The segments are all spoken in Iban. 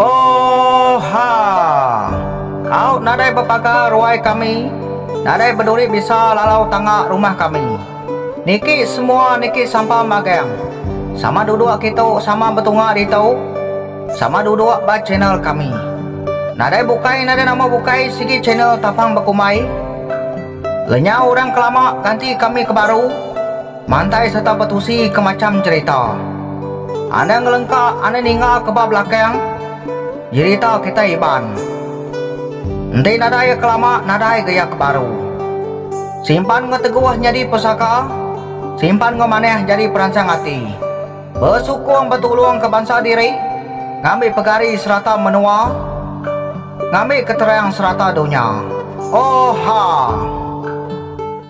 Oha! Au nadai bepaga ruai kami, nadai beduri bisa lalau tangga rumah kami. Niki semua niki sampa magang. Sama duduk kitu sama betunga ditu, sama duduk ba channel kami. Nadai bukai nadai nama bukai sigi channel tapang bekumbai. Lenyau orang kelama ganti kami ke baru. Mantai sereta betusi ke macham jerita. Anda ngelengka ane ninga ke ba belakang jerita kitai Iban. Enti nadai iya kelama nadai ga iya ke baru. Simpan enggau teguh nyadi pesaka, simpan enggau manah jadi peransang ati. Besukung betulung ke bansa diri, ngambi pegari serata menua, ngambi keterang serata dunya. Oha!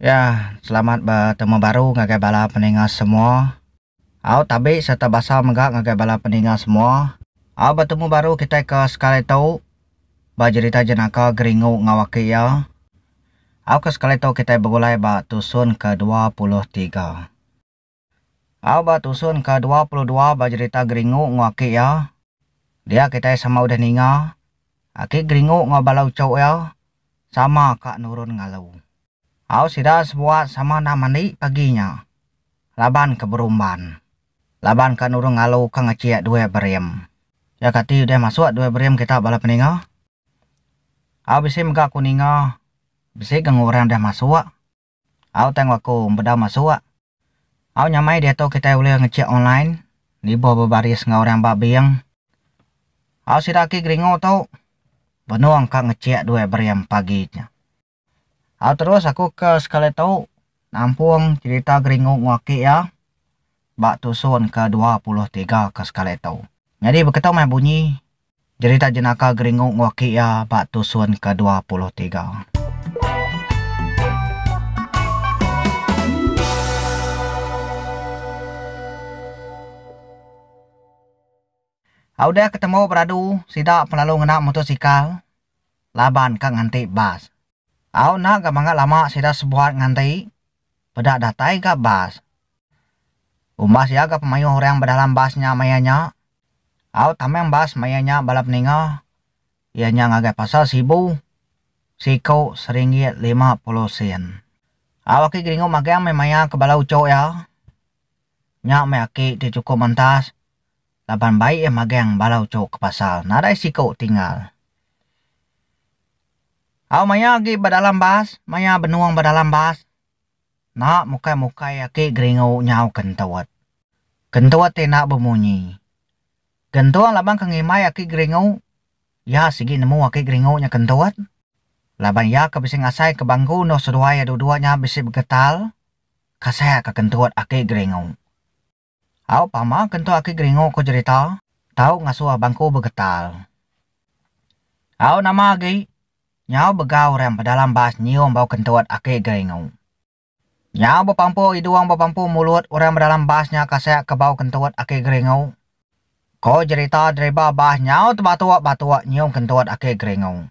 Ya, selamat betemu baru ngagai bala peninga semua. Au tabi serta basa mega ngagai bala peninga semua. Au betemu baru kitai ke sekali tu ba jerita jenaka Geringu enggau aki iya. Au ke sekali tu kitai begulai ba tusun ke dua puluh tiga. Au ba tusun ke dua puluh dua ba jerita Geringu enggau aki iya. Dia kitai sama udah ninga, aki Geringu enggau bala uchu iya sama ka nurun ngalu. Au sida sebuat sama enda mandi pagi nya laban ke berumban. Laban ka nurun ngalu ka ngechik duit berim. Iya kati udah masuk duit berim kita bala peninga? Au bisi mega aku ninga bisi ga enggau orang udah masuk. Au tang aku embedau masuk. Au nyamai diatu kitai ulih ngechek online, nibuh bebaris enggau orang ba bank. Au sida agi geringu tu, benung ka ngechek duit berim pagi nya. Au terus aku ke sekali tu nampung cherita geringu enggau aki iya ba tusun ke dua puluh tiga ke sekali tu. Nyadi beketu meh bunyi Jerita jenaka Geringu ngewaki iya ba tusun ke dua puluh tiga. A Udah ketemu beradu, sida pelalu ngena mutosikal laban ka nganti bas. Au enda ga mangga lama sida sebuat nganti peda datai ga bas. Umbas iya ga pemayuh orang bedalam bas nya maya nya. Au tamang bas maya nya bala peninga iya nya ngagai pasal Sibu siku seringgit lima puluh sen. Au aki Geringu magang meh maya ke bala uchu iya. Nya meh aki ti chukup mantas laban bai iya magang bala uchu ke pasar nadai siku tinggal. Au maya agi ba dalam bas, maya benung ba dalam bas, enda mukai-mukai aki geringu nyau kentut. Kentut ti enda bemunyi. Gentung laban ke ngimbai aki geringu, iya sigi nemu aki geringu nya kentut laban iya ke bisi ngasai ke bangku endur seduai iya duduk nya bisi begetal kasakka kentut aki geringu. Au pama ke entu aki geringu ko jerita tau ngasuh bangku begetal. Au nama agi nyau begau orang bedalam bas nyium bau kentut aki geringu. Nyau bepampu idung bepampu mulut orang bedalam bas nya kasek ke bau kentut aki geringu. Ko jerita driba bas nyau tebatuk batuk nyium kentut aki geringu.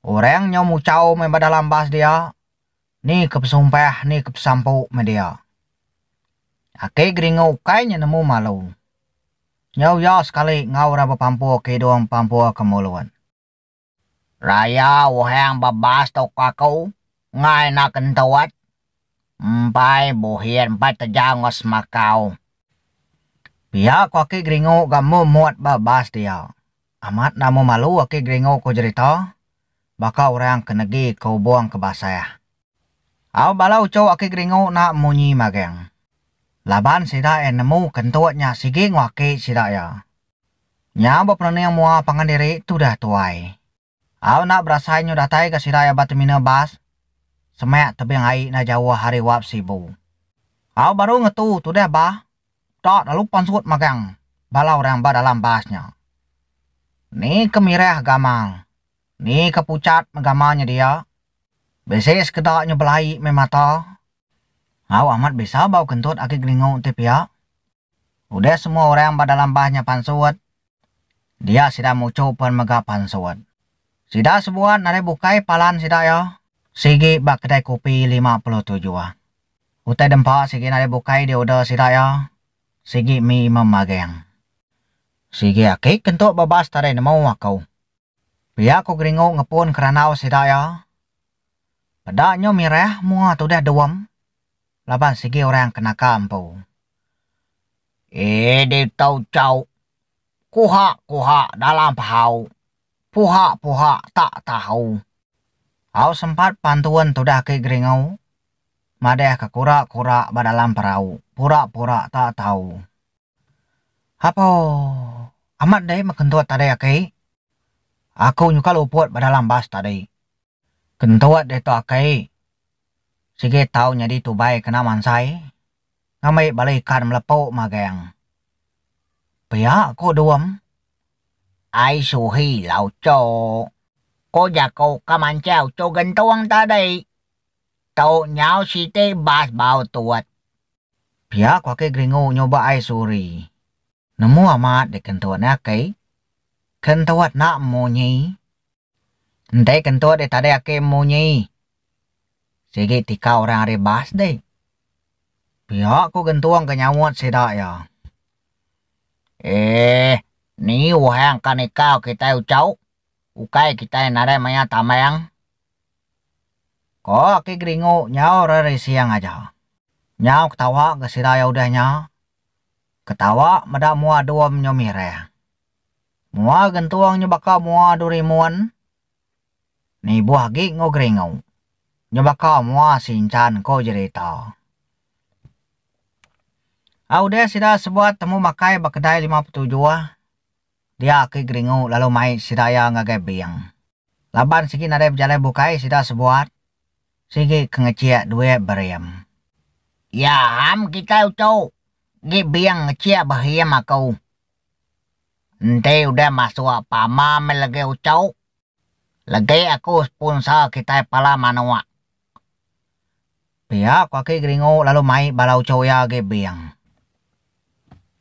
Orang nyau muchau meh bedalam bas dia Ni ke pesumpah ni ke pesampu meh dia. Aki Geringu ukai nya nemu malu. Nyau iya sekali enggau orang bepampur ke hidung bepampur ke mulut. Raya Uhang bebas tu ke aku engai enda kentut. Empai buhit empai tejau enggau semakau. Pia ku Aki Geringu ga mut-mut ba bas dia. Amat nama malu aki Gringo ko jerita baka orang ke negi ke ubong ke basah. Au bala uchu aki Gringo na munyi mageng. Laban sida iya nemu ke entuk nya sigi enggau aki sida iya. Nya beperening mua pangan diri tudah tuai. Au na berasai nyu datai ga sida iya ba terminal bas semak tebing ai na jauh ari Wap Sibu. Au baru ngetu tudah bah Tau lalu pan serut magang bala orang ba dalam bas nya. Ni ke mirah gamal, ni ke pucat meh gamal nya dia. Bisi sekeda nya belai meh mata. Au amat bisa bau kentut agi gelingu enti pia. Udah semua orang ba dalam bas nya pan serut, Dia sida muchu pen mega pansut. Sida sebuat nadai bukai palan sida iya sigi ba kedai kopi lima puluh tujuh. Utai dempa sigi nadai bukai di order sida iya sigi mi imam mageng. Sigi aki ke entuk bebas tadai nemu aku. Pia ku Geringu ngepun ke randau sida iya. Peda nyu mirah mua tudah Duem laban sigi orang ke naka empu. Ih ditu chau. Kuha kuha dalam pahau. Puha puha tak tahu. Au sempat pantun tudah ki Geringu madah ke kura kura ba dalam perau pura pura tak tahu. Hapoo. Amat deh meh kentut tadi akai. Aku nyuka luput ba dalam bas tadi. Kentut deh tu akai. Sigi tau nyadi tubai kena mansai. Ngambi bala ikan melepu magang. Pia ku Duem. Ai suhi la uchuh. Ku jaku ka manchai uchuh gentung tadi. Tu nyau siti bas bau tut. Pia ku aki Gringo nyuba ai suri. Nemu amat dek kentut ne aki. Kentut enda munyi. Enti kentut dek tadi aki munyi. Sigi tika orang ari bas dek. Pia ku Gentung ke nyaut sida iya. Eeh ni orang ka nikau kitai ucau. Ukai kitai nadai maya tambang. Ko Aki Geringu nyaur ari siang aja. Nyau ketawa ga sida iya udah nya. Ketawa meda mua dum nyu mirang. Mua gentung nyu baka mua Durimun. Nibuh agi enggau Geringu. Nyu baka mua Sinchan ko jerita. Udah sida sebuat temu makai ba kedai lima petujuh. dia ke geringu lalu mai sida iya ngagai bing. Laban sigi nadai bejalai bukai sida sebuat, sigi ke ngechik duit berim. Iya ham kitai uchu gi bing ngechik behim aku. Enti udah masuk pama meh legi uchu. Legek aku sponsor kitai pala manok. Pia ko aki Geringo lalu mai bala ucho iya agi bing.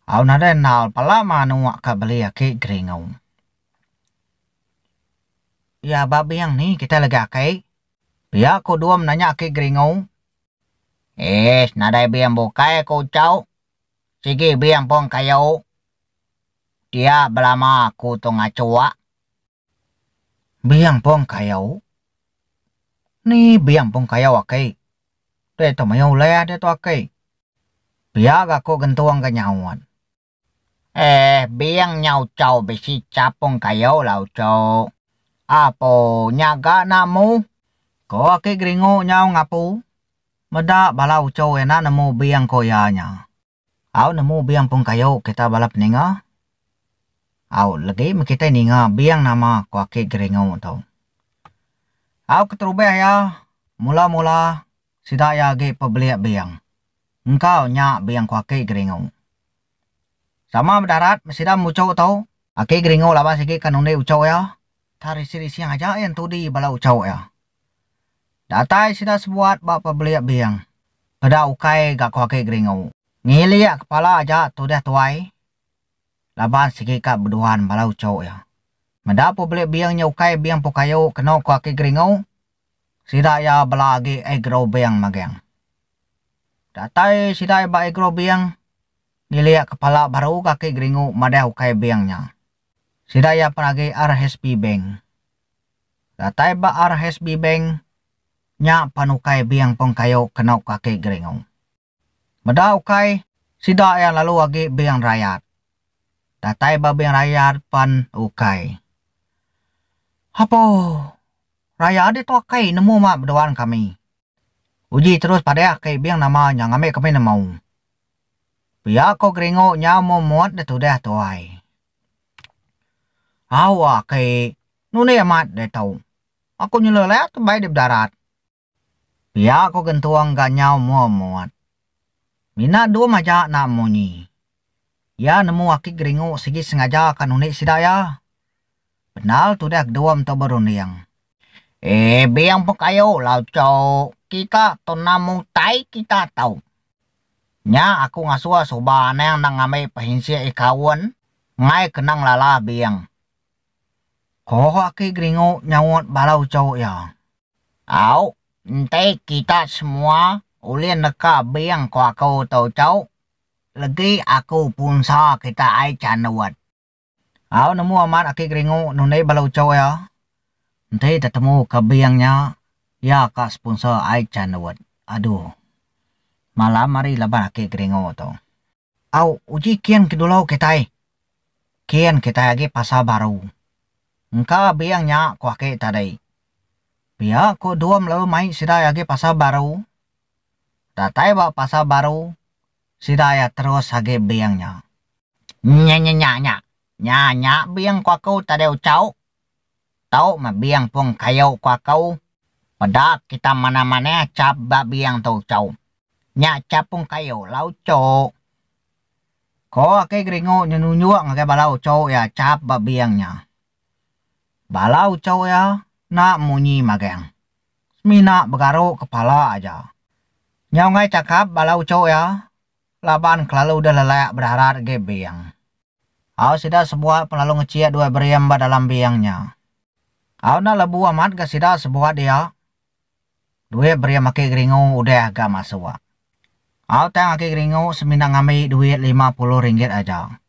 Au nadai endal pala manok ka beli aki Geringo. Iya ba bing ni kitai legi aki? Pia ko Dum nanya aki Geringo. Ish nadai bing bukai ko ucho. Sigi bing pun kayu. Dia belama aku tu ngachok. Biang pong kayau? Ni biang pong kayau aki? Diatu maya ulih diatu aki. Pia ga ko gentung ga nyaut. Eh biang nya uchau bisi chap pong kayau lah uchu. Apo nya ga nak mu? Ko aki geringu nyau ngapu. Meda bala uchu ena nemu biang ko iya nya. Au nemu bing pung kayu kita bala peninga. Au legi meh kitai ninga bing nama ko aki Geringu tu. Au keterubah iya mula mula sida iya agi pebelik bing. Engkau nya bing ko aki Geringu. Sama meh darat meh sida meh uchu tu. Aki Geringu laban sigi ka nundi uchu iya. Tha rising rising aja iya entudi bala uchu iya. Datai sida sebuat ba pebelik bing. Peda ukai ga ko aki Geringu. Ngilik kepala aja tudah tuai laban sigi ka beduan bala uchu iya. Meda pebelik bing nya ukai bing empu kayu keno ko aki Geringu, sida iya bela agi agro bing maging. Datai sida iya ba agro bing, ngilik kepala baru ga aki Geringu madah ukai bing nya. Sida iya pen agi RHSB Bank. Datai ba RHSB Bank, nya pan ukai bing peng kayu kenu kaki geringu. Meda ukai, sida iya lalu agi bing rayat. Datai ba bing rayat pan ukai. Apo! Rayat ditu akai nemu ma beduan kami. Uji terus padeh akai bing nama nya ngambi kami nemu. Pia ko geringu nya mumut ditudih tuai. Au aki, nundi amat deh tu. Aku nyelur leh tu bai deh bedarat. Pia ko gentung ga nyau mua mut. Mina dum aja nak munyi. Ia nemu aki geringu sigi sengaja ka nundi sida ia. Bendar tudah gedum tu berunding. Eh bing pun kayu lau cuk. Kita tu enam utai kita tu. Nya aku ngasuh suba anang nang ngambi pehinsik ikaun enggai kena ngelala bing. Ko Aki Geringu nyaut bala uchu iya. Au, enti kita semua ulih neka bing ko aku tu uchu, legi aku punsa kita ai chandut. Au nemu amat aki Geringu nundi bala uchu iya. Enti tetemu ka bing nya iya ka sponsor ai chan nuwut. Aduh. Malam ari laban aki Geringu tu. Au uji kin ke dulu kitai. Kin kitai agi pasar baru. Engka bing nya ku aki tadi. Pia ku Dum lalu mai sida agi pasar baru. Datai ba pasar baru. Sida iya terus agi bing nya. Nya nya nya nya. Nya nya bing ku aku tadi ucau. Tu meh bing pung kayu ku aku. Peda kita manah manah chap ba bing tu ucau. Nya chap pung kayu la ucuk. Ko Aki Geringu nyenunjuk ngagai bala ucuk iya chap ba bing nya. Bala uchu iya enda munyi mageng. Semina begaru kepala aja. Nyau enggai chakap bala uchu iya laban kelalu deh lelak bedarat agi bing. Au sida sebuat pun lalu ngechik dua berim ba dalam bing nya. Au enda lebu amat ga sida sebuat dia. Duit berim aki Geringu udah ga masuk. Au tang aki Geringu semina ngambi duit lima puluh ringgit aja.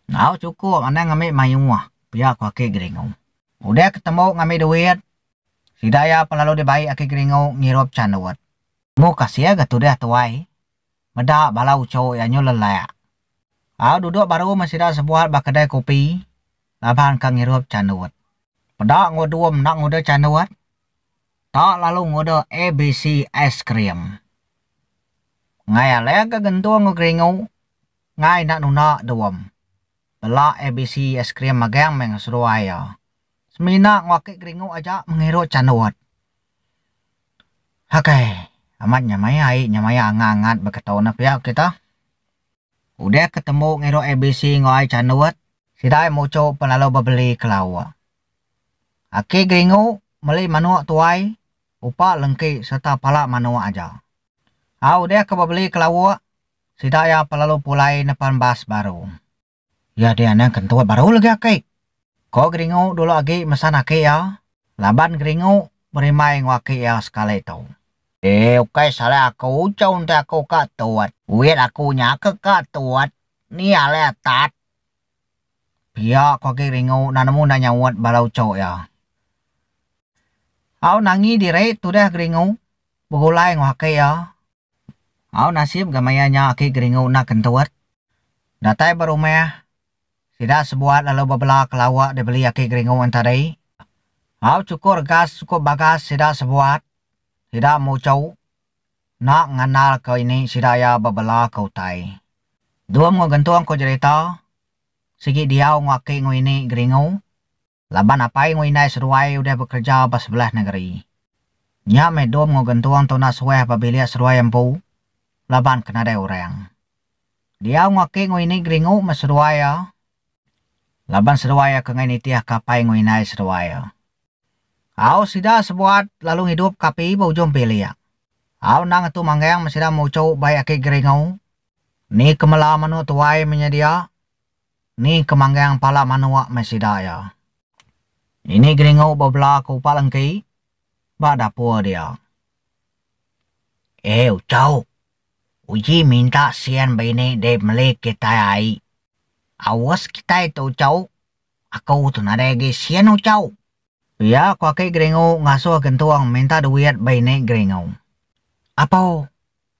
Enggau chukup anang ngambi mayuh, pia ku Aki Geringu. Udah ke tembu ngambi duit, sida iya pun lalu dibai Aki Geringu ngirup chandut. Mu kasih ga tudah tuai. Meda bala uchu iya nyu lelak. Au duduk baru meh sida sebuat ba kedai kopi laban ka ngirup chandut. Peda enggau Dum enda ngudah chandut, ta lalu ngudah ABC Aiskrim. Ngai Alek ga gentung enggau Geringu, Ngai enda nuna Duom. Bela abc aiskrim magang meh ngeseduai iya. Semina ngwakit geringu aja mengiru chandut. Hakai. Amat nya maya ai nya maya angat angat beketo ne pia kita. Udah ke tembu ngiru abc enggau ai chandut. Sida ai muchu pun lalu bebeli ke lauk. Aki geringu meli manuk tuai, upa lengki serta pala manuk aja. Au udah ke bebeli ke lauk, Sida iya pa lalu pulai nepan bas baru. Iya dia anang kentut baru lagi aki. Ko Geringu dulu agi mesan aki iya laban Geringu berimbai enggau aki iya sekali tu. Deh ukai salah aku chau ntai aku ka tut. Duit aku nya ke ka tut ni alai atat. Pia ko agi Geringu enda nemu enda nyaut balau chau iya. Au nangi diri tudah Geringu begulai enggau aki iya. Au nasib ga maya nya aki geringu enda kentut. Datai ba rumah, sida sebuat lalu bebela kelawak dibeli aki geringu an tadi. Au chukur regas sukup bagas sida sebuat, sida muchu enda ngandal ka ini sida iya bebela ka utai. Dum enggau gentung ko jerita, sigi diau enggau aki enggau ini geringu. Laban apai enggau indai seruai udah bekereja ba sebelah nengeri. Nya meh Dom enggau Gentung tuna suah ba bilik seruai empu laban ke nadai orang. Diau enggau aki enggau ini geringu meh seruai iya laban seruai iya ke enggai nitihka apai enggau indai seruai iya. Au sida sebuat lalu ngidup ke api ba ujung bilik. Au endang ngetu manggang meh sida muchu bai aki geringu. Ni ke mela manu tuai menyedia Ni ke manggang pala manok meh sida iya. Ini Geringu bebela ke upa lengki ba dapur dia. Eh Ucok, uji minta sian bini deh meli kitai ai. Aus kitai tu Ucok, aku tu nadai agi sian Ucok. Pia ku aki Geringu ngasuh Gentung minta duit bini Geringu. Apo,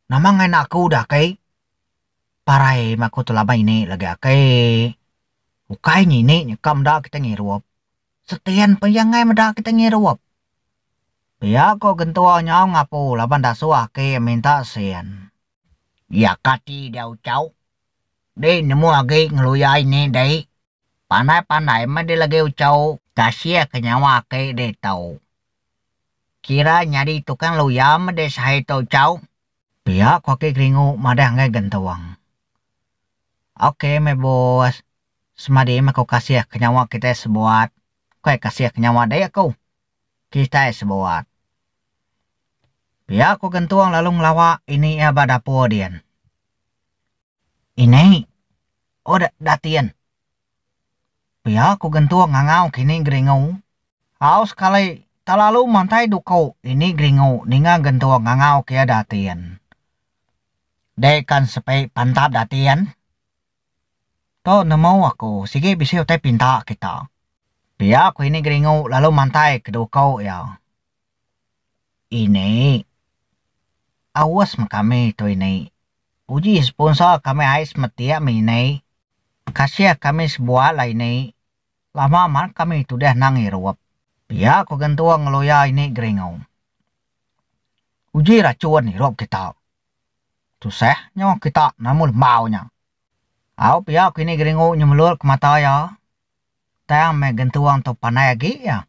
nama nganak aku dah aki? Parai meh aku tu laban ini lagi aki. Ukai ngini nyeka meda kita ngirup. Setin pun iya enggai meda kita ngirup. Pia ko gentua nyau ngapu laban dasuh aki minta sin. Iya ka ti diau chau. Dei nemu agi ngeluya ini dei. Pandai pandai meh dei lagi uchau. Kasih ke nyawa aki dei tau. Kira nyadi tukang luya meh dei sehai tu uchau. Pia ko aki Geringu madah enggai gentung. Ok meh bos. Semadi meh ko kasih ke nyawa kitai sebuat. Bukai kasih ke nyawa dek ko. Kitai sebuat. Pia ko gentung lalu ngelawa ini ia ba dapur din. Inai, oh da datin. Pia ku gentung ngangau kini geringu. Au sekali, talalu mantai duku ini geringu ninga gentung ngangau kia datin. Dek kan sepi pantap datin. Tu nemu aku, sigi bisi utai pinta kita. Pia ku ini geringu lalu mantai ke duku iya. Ini. Awas meh kami tu ini. Uji sponsor kami ai semetik meh ini. Kasih kami sebuah lah ini. Lama man kami tudah nang irup. Pia ko gentung ngeloya ini Geringu. Uji racun irup kita. Tusah nyo kita nemu lembau nya. Au pia ko ini Geringu nyemelur ke mata iya. Tang meh gentung tu pandai agi iya.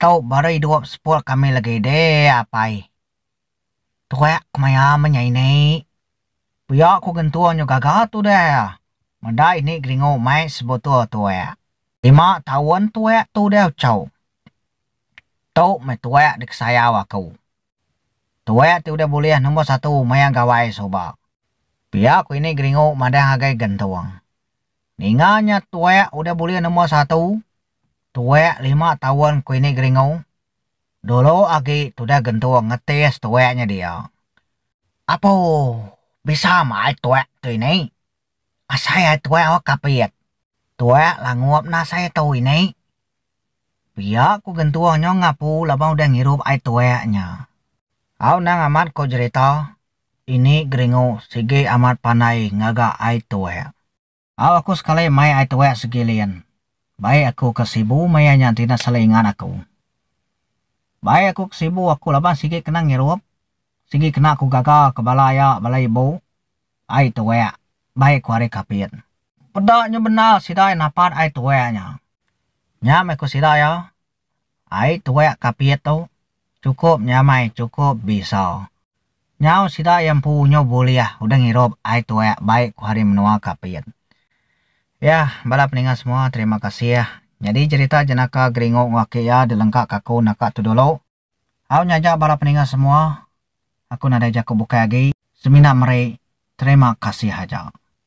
Tau baru idup sepul kami lagi deh apai. Tuek ku maya menyai ini. Pia ku gentung nyu gaga tu deh. Meda ini geringu mai sebutul tuek. Lima taun tuek tu deh ucau. Tu meh tuek dikesayau aku. Tuek ti udah bulih nombor satu maya gawai suba. Pia ku ini geringu madah agai gentung. Ninga nya tuek udah bulih nombor satu. Tuak lima taun ku ini Geringu, dulu agi tudah gentung ngetis tuak nya dia. Apo bisa mah ai tuak tu ini. Asai ai tuak awak kapit. Tuak langup nah asai tu ini. Pia ku gentung nyo ngapu laban udah ngirup ai tuak nya. Au anang amat ku jerita ini Geringu sigi amat pandai ngaga ai tuak. Au aku sekali mai ai tuek segi lien. Baik aku ke sibu maya nya enti enda sala ingat aku. Baik aku ke sibu aku laban sigi kena ngirup, sigi kena aku gaga ke bala iya bala ibu. Ai tuek, baik aku ari Kapit. Peda nya bendar sida iya napat ai tuek nya. Nya meh ku sida iya, Ai tuek kapit tu cukup nyamai cukup bisa. Nyau sida iya empu unyu bulih udah ngirup ai tuek baik ku hari menua kapit. Yah bala peninga semua terima kasih. Nyadi jerita jenaka Geringu enggau aki iya dilengka ka aku naka tu dulu. Au nyaja bala peninga semua aku nadai jaku bukai agi semina meri terima kasih aja.